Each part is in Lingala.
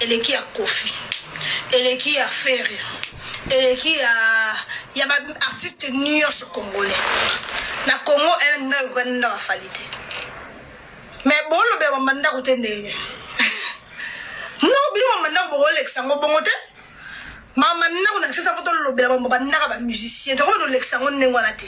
eleki ya kofi eleki ya ferre eleki ya ya ba artiste nyonso congolais na congo ena ndako ekokani ndako afali te me bolobela bamba ndako te ndenge ndako bino bamba ndako bokolekisa yango bongo te mama ndako na kisasa fo tolobela bamba bandaka bamusicien tokomi tolekisa yango ndenge wana te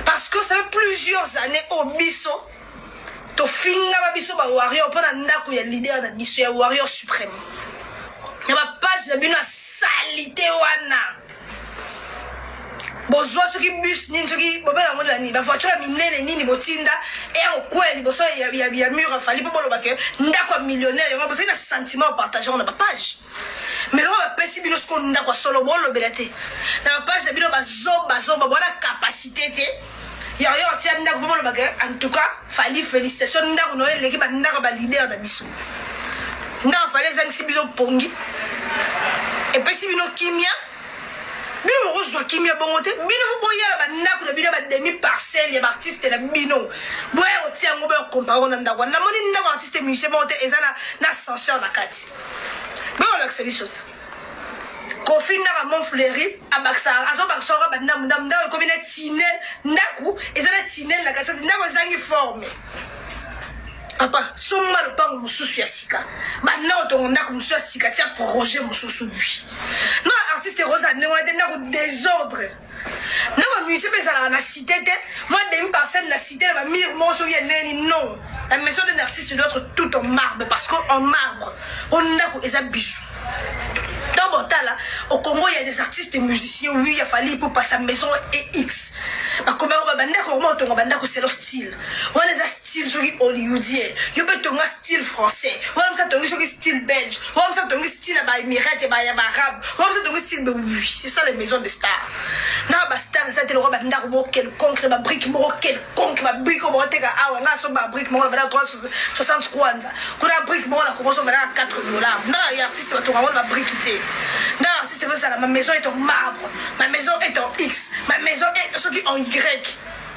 parce que ça fait plusieurs années oyo biso tofingama biso ba warrior mpo na ndako ya leader na biso ya warrior supreme na bapage na bino ya salite wana bozwa soki bus nini soki bobela yango na nini bavoiture ya minene nini botinda eya kokwela liboso ya, ya, ya mur afali mpo boloba ke ndako ya millionnaire yango bozali na sentiment ya partage yango na bapage mais loko bapesi bino siko ndako ya solo bolobela te na bapage na bino bazoba zoba bwana kapasité te yango yo otia ndako mpo boloba ke en tout cas fali félicitation ndako na yo eleki bandako ba leader na biso ndako fali ezangisi bino pongi epesi bino kimia bino bokozwa kimia bongo te bino boboyala bandako na bino bademi parcelle ya baartiste na bino boya kotia yango boya kokompare ngo na ndako wana namoni ndako artiste musicien moko te eza na ascenseur na kati boya kolakisa biso te kofi ndaka mon fleuri abakisaka azobakisa oka bandambu ndambu ndako ekomi na tinel ndako eza na tinel na katikati ndako ezangi forme papa somba lopango mosusu ya sika banda otongo ndako mosusu ya sika tia projet mosusu wi na artiste ekozala ndenge wana te ndako desordre na ba musée mpe ezalaka na cité te mwa demi parcelle na cité na ba mire moko soki eneni non la maison d'un artiste doit être tout en marbre parce que en marbre o ndako eza bijou donc botala au congo il y a des artistes musiciens oui ya fali ipupa sa maison ex bakomaki babandako bango batonga bandako selo style wana eza style soki hollywoodien yo mpe tonga style français wana msa tongi soki style belge wana msa tongi style ya baemirate ya baarabe wana msa tongi style c'est ça les maisons de star na bastar eza te lokola bandako moko quelconque na babrike moko quelconque babrike oyo bakoteka awa nga so babrike moko na valeur 360 kwanza kuna brike moko na kokoso valeur 4 dollar na ya artiste batonga ngo na babrike te na artiste ekozala ma maison est en marbre ma maison est en x ma maison est soki en y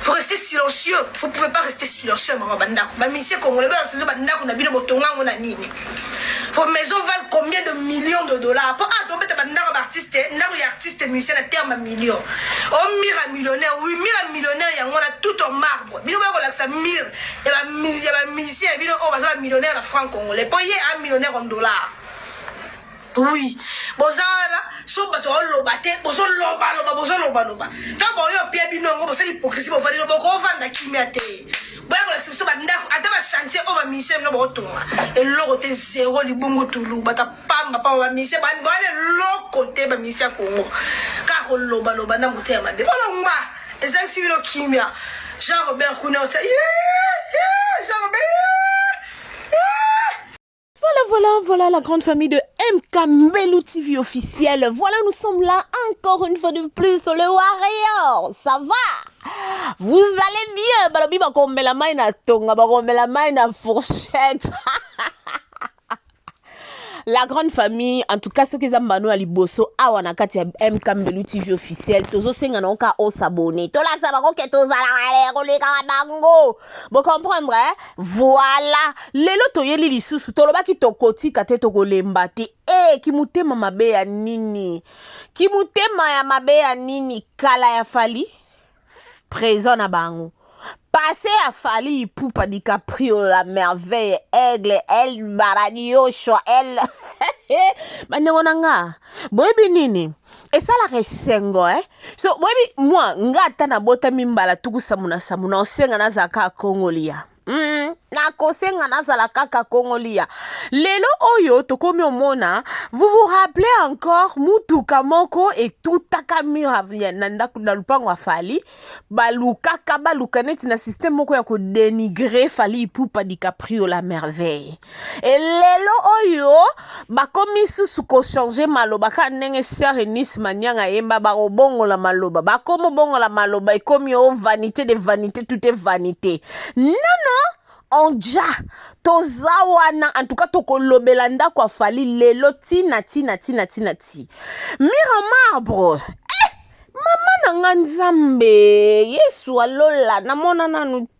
faut rester silencieux vous pouvez pas rester silencieux mama bandako bamisie congolais bayo bandako na bino botonga yango na nini vos maisons valent combien de millions de dollars mpo ah tobeta bandako baartiste ndako ya artiste musicien na terme million o oh, mire ya millionnaire oui mire ya millionnaire yango wana tout en marbre bino baya kolakisa mire ya bamusicien ya bino oyo oh, baza bamillionnaire na franc congolais mpo ye a millionnaire en dollars Oui. Boza wana so bato baoloba te bozoloba loba bozoloba loba ntango baoyo bapia bino yango bosala hypocrisie bovandi no bokovanda kimia te boya kolakisa biso bandako ata bachantier oyo bamisie bino baotonga eloko te zero libungu tulu bata pamba pamba bamisie bawana eloko te bamisie ya kongo kaka koloba loba na moto ya mabe bolongba ezangisi bino kimia jean robert kuna otia jean robert Voilà, voilà, voilà la grande famille de MK Mbelou TV officiel. Voilà, nous sommes là encore une fois de plus sur le Warrior. Ça va Vous allez bien Balobi bakombela mai na tonga, bakombela mai na fourchette. la grande famille en tout cas ce soki eza mbano ya liboso awa na kati ya mk mbelu tv officiel tozosenga na oka osabone tolakisa bango ke tozalaka kolekaka bango Bo comprendre eh? Voilà. Lelo toyeli lisusu tolobaki tokotika te tokolemba te. Eh kimutema mabe ya nini? Kimutema ya mabe ya nini? Kala ya Fally présent na bango. Passé à Fally Ipupa DiCaprio la merveille aigle El Baradio Shoa El bandeko na nga boyebi nini esalaka esengo eh? so boyebi mwa nga ata nabotami mbala tuku sambo na sambo na osenga nazala kaka kongolia Mm, nakosenga nazala kaka kongolia lelo oyo tokomi omona vous vous rappelez encore mutuka moko etutaka mur na ndako na lupango ya fali balukaka baluka neti na systeme moko ya kodenigre fali ipupa dicaprio la merveille e lelo oyo bakomi susu kochange maloba kaka ndenge siare nice manianga ayemba bakobongola maloba bakomi obongola maloba ekomi o oh, vanité de vanité tout est vanité nono onja toza wana en tout cas tokolobela ndako afali lelo tina tina tina tina ti mire marbre eh, mama na nga nzambe yesu alola namona nanu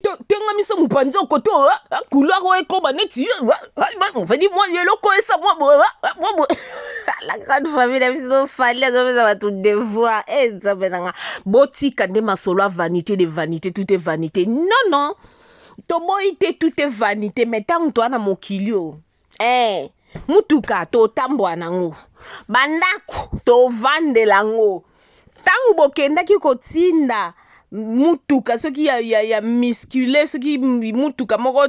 tengamisa mopanzi okoto couleur oyo ekoba neti ofedi mwa eloko esa mwa boye la grande famille na biso fali azopesa bato devoir e eh, nzambe na nga botika nde masolo ya vanité de vanité tout est vanité non non toboyi te tout est vanité mai ntango toa na mokili oyo eh, mutuka totambwa nango bandako tovandela ngo ntango bokendaki kotinda mutuka soki ya, ya, ya miskule soki mutuka moko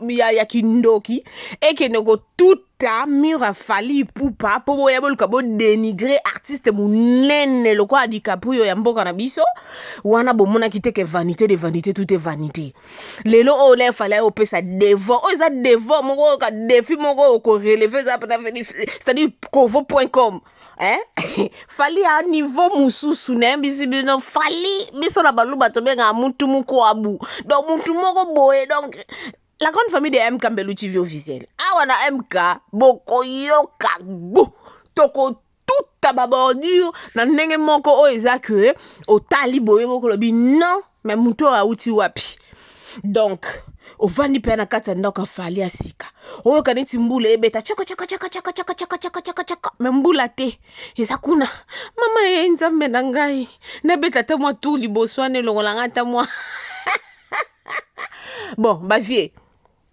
ya, ya kindoki ekende kotuta mur ya fali ipupa mpo boya boluka bodenigre artiste monene lokola dicaprio ya mboka na biso wana bomonaki te ke vanité de vanité tout est vanité lelo oyo na efale ayo opesa devant oyo eza devant moko oyo ka defi moko oyo koreleve eza pena c'est-à-dire kovo point com eh? fali a niveau mosusu nayebisi bino fali biso na baluba tobengaka mutu mokwabu donc mutu moko boye donc la grande famille de mk mbelu tv officiel awa na mk bokoyoka gu toko tout ba bordure na ndenge moko oyo eza que otali boye bokolobi non me motu oyo awuti wapi donc ovandi mpe na kati ya ndako afali ya sika oyoka neti mbula ebeta cakacakacakacakacakacakacaka me mbula te eza kuna mama ye nzambe na ngai nabeta ata mwa tour liboso wana elongola ngai ata mwa bon bavie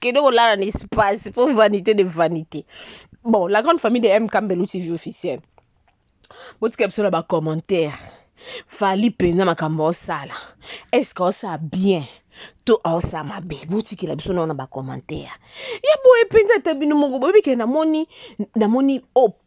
kende kolala na espace mpo vanité de vanité bon la grande famille de mk mbelu tv officiel botika biso na bacommentaire fali mpenza makambo osala estce osala bien to aosala mabe botikela biso nao na bacommentaire ya boye mpenza ata bino moko boyebi ke namoni namoni o oh,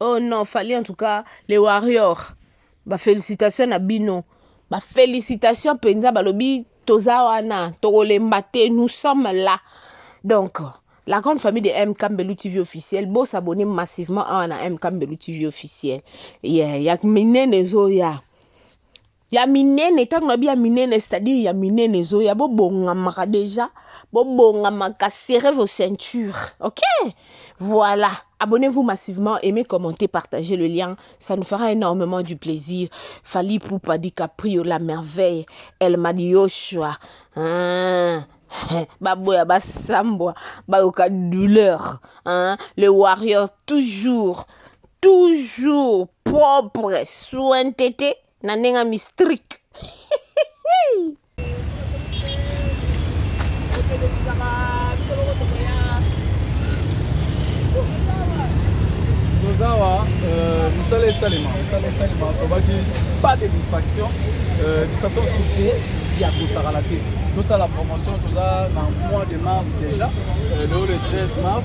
Oh non, Fally en tout cas, les warriors. Ba félicitations na bino. Ba félicitations penza balobi toza wana, tokolemba te, nous sommes là. Donc, la grande famille de M Kambelu TV officiel, bo s'abonner massivement à na M Kambelu TV officiel. Yeah, yak minene zoya. ya minene ntango na bi ya minene c'est-à-dire ya minene ezoya bobongamaka déjà bobongamaka serrez vos ceintures ok voilà abonnez-vous massivement aimez commentez partagez le lien ça nous fera énormément du plaisir Fally Poupa DiCaprio la merveille El Madioshua hein? baboya basambwa bayoka douleur hein? le warrior toujours toujours propre soin tete na ndenge mistrique tozawa euh, misala esalema misala esalema tobaki pas de distraction euh, distraction surtout ya kosakana te tosala promotion toza na mois de mars déjà euh, leo le 13 mars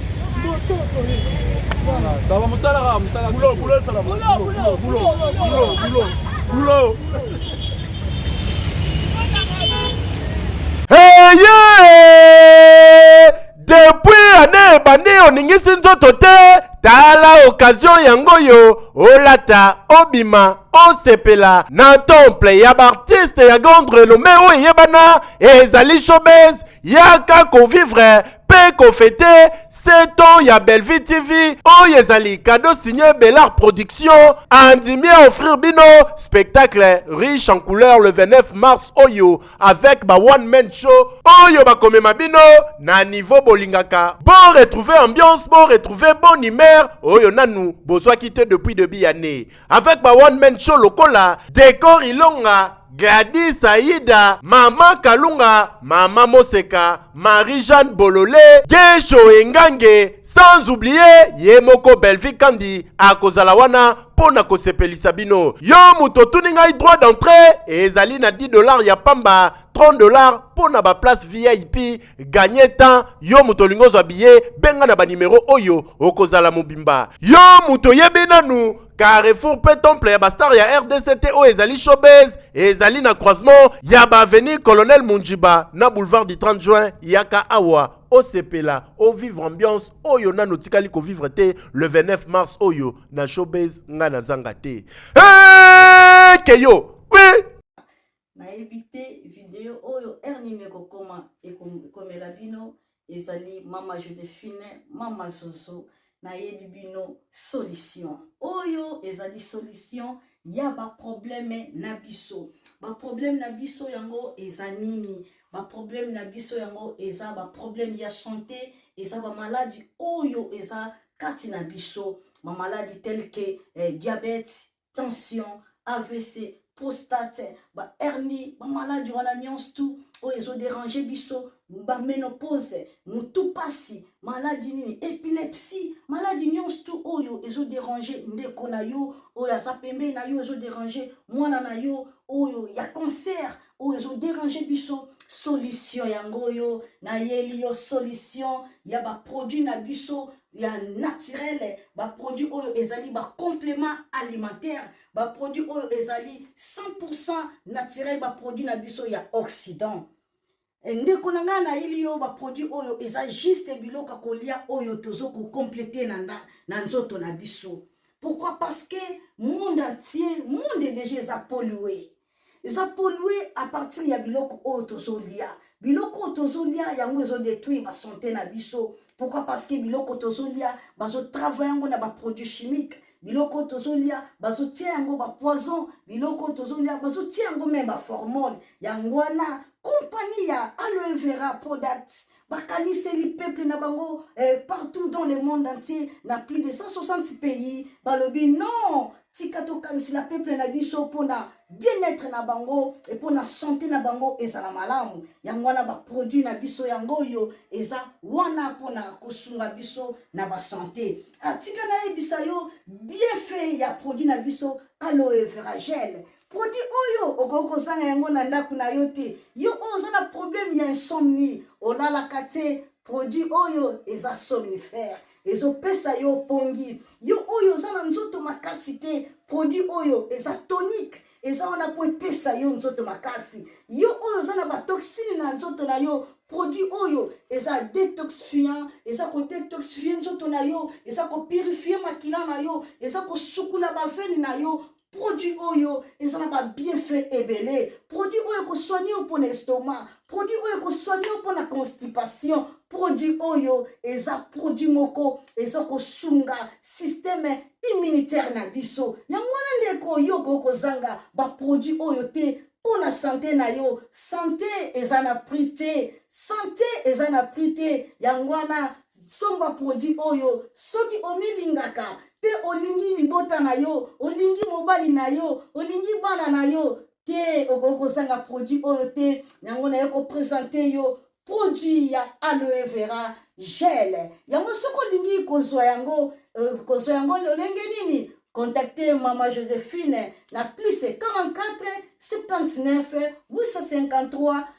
Sawa musala kaka musala. Bulo bulo sala bulo bulo bulo bulo bulo bulo. Heye! Depuis année ebandi oningisi nzoto te tala okazio yango oyo olata obima osepela na temple ya baartiste ya grande renome oyo eyebana ezali showbase Yaka ko vivre pe ko fete 7 ans ya Bellevue TV oyo ezali cadeau signé Belart Production andimi a offrir bino spectacle riche en couleur le 29 mars oyo avec ba one man show oyo bakomema bino na niveau bolingaka bo retrouver ambiance bo retrouver bonne humeur oyo nanu bozwaki te depuis debut ya année avec ba one man show lokola Decor Ilonga, Gladys Aida, Mama Kalunga, Mama Moseka, Marie-Jeanne Bolole, Gesho Engange, sans oublier ye moko Bellevue Kandi akozala wana mpo na kosepelisa bino. Yo moto otuni ngai droit d'entrée ezali na 10 dollars ya pamba, 30 dollars mpo na ba place VIP ganye temps yo moto olingi ozwa biye benga na banimero oyo okozala mobimba yo moto oyebi nanu carrefour mpe temple ya bastar ya rdc te oyo ezali showbase ezali na croisement ya baavenue colonel munjiba na boulevard du 30 juin yaka awa osepela ovivre ambiance oyo nano otikali kovivre te le 29 mars oyo na showbase ngai nazanga te hey, keyo oui. nayebi te video oyo heure nini ekokoma ekomela bino ezali mama josephine mama zozo nayebi bino solution oyo ezali solution ya baprobleme na biso baprobleme na biso yango eza nini baprobleme na biso yango eza baprobleme ya sante eza bamaladi oyo eza kati na biso bamaladi telke eh, diabete tension avc prostate bahernie bamaladi wana nyonso tu oyo ezoderange biso baménopause motu mpasi maladi nini epilepsie maladi nyonso tu oyo ezoderange ndeko na yo oyo aza pembeni na yo ezoderange mwana na yo oyo ya cancer oyo ezoderange biso solution yango oyo nayeli yo solution ya baproduit na biso ya naturel baproduit oyo ezali bacomplement alimentaire baproduit oyo ezali 100 naturel baproduit na biso ya occident eh, ndeko na ngai nayeli yo baproduit oyo eza juste biloko ya kolia oyo tozo kocomplete na, na, na nzoto na biso pourquoi parce que monde entier monde deja eza polue eza polue à partir ya biloko oyo tozolia biloko oyo tozolia yango ezodetruire basante na biso pourquoi parce que biloko tozolia bazotravaille yango na baproduit chimique biloko tozolia bazotia yango bapoison biloko tozolia bazotia yango meme baformone yango wana kompani ya aloe vera product bakaniseli peuple na bango eh, partout dans le monde entier na plus de 160 pays balobi non tika tokanisela peuple na biso mpona bien-être na bango e mpona sante na bango ezala malamu yango wana baproduit na biso yango oyo eza wana mpona kosunga biso na basante atika ah, nayebisa yo bienfait ya produit na biso aloe veragele produit oyo okoki kozanga yango na ndako na yo te yo oyo oza na problème ya insomnie olalaka te produit oyo eza somnifère ezopesa yo pongi yo oyo oza na nzoto makasi te produit oyo eza tonique eza wana mpo epesa yo nzoto makasi yo oyo oza na batoxine na nzoto na yo produit oyo eza detoxifiant eza kodetoxifie nzoto na yo eza kopurifie makila na yo eza kosukula bavene na yo produit oyo eza na babienfait ebele produit oyo ekosoigne yo mpo na estomac produit oyo ekosoigne yo mpo na constipation produit oyo eza produit moko eza kosunga systeme immunitaire na biso yango wana ndeko yo okoki kozanga baproduit oyo te mpo na sante na yo sante eza na prix te sante eza na prix te yango wana somba produit oyo soki omilingaka mpe olingi libota na yo olingi mobali na yo olingi bana na yo te okoki kozanga produit oyo te yango naye kopresente yo produit ya aloe vera gel yango soki olingi kozwa yango euh, kozwa yango lolenge nini contacte mama josephine na plus 44 79 853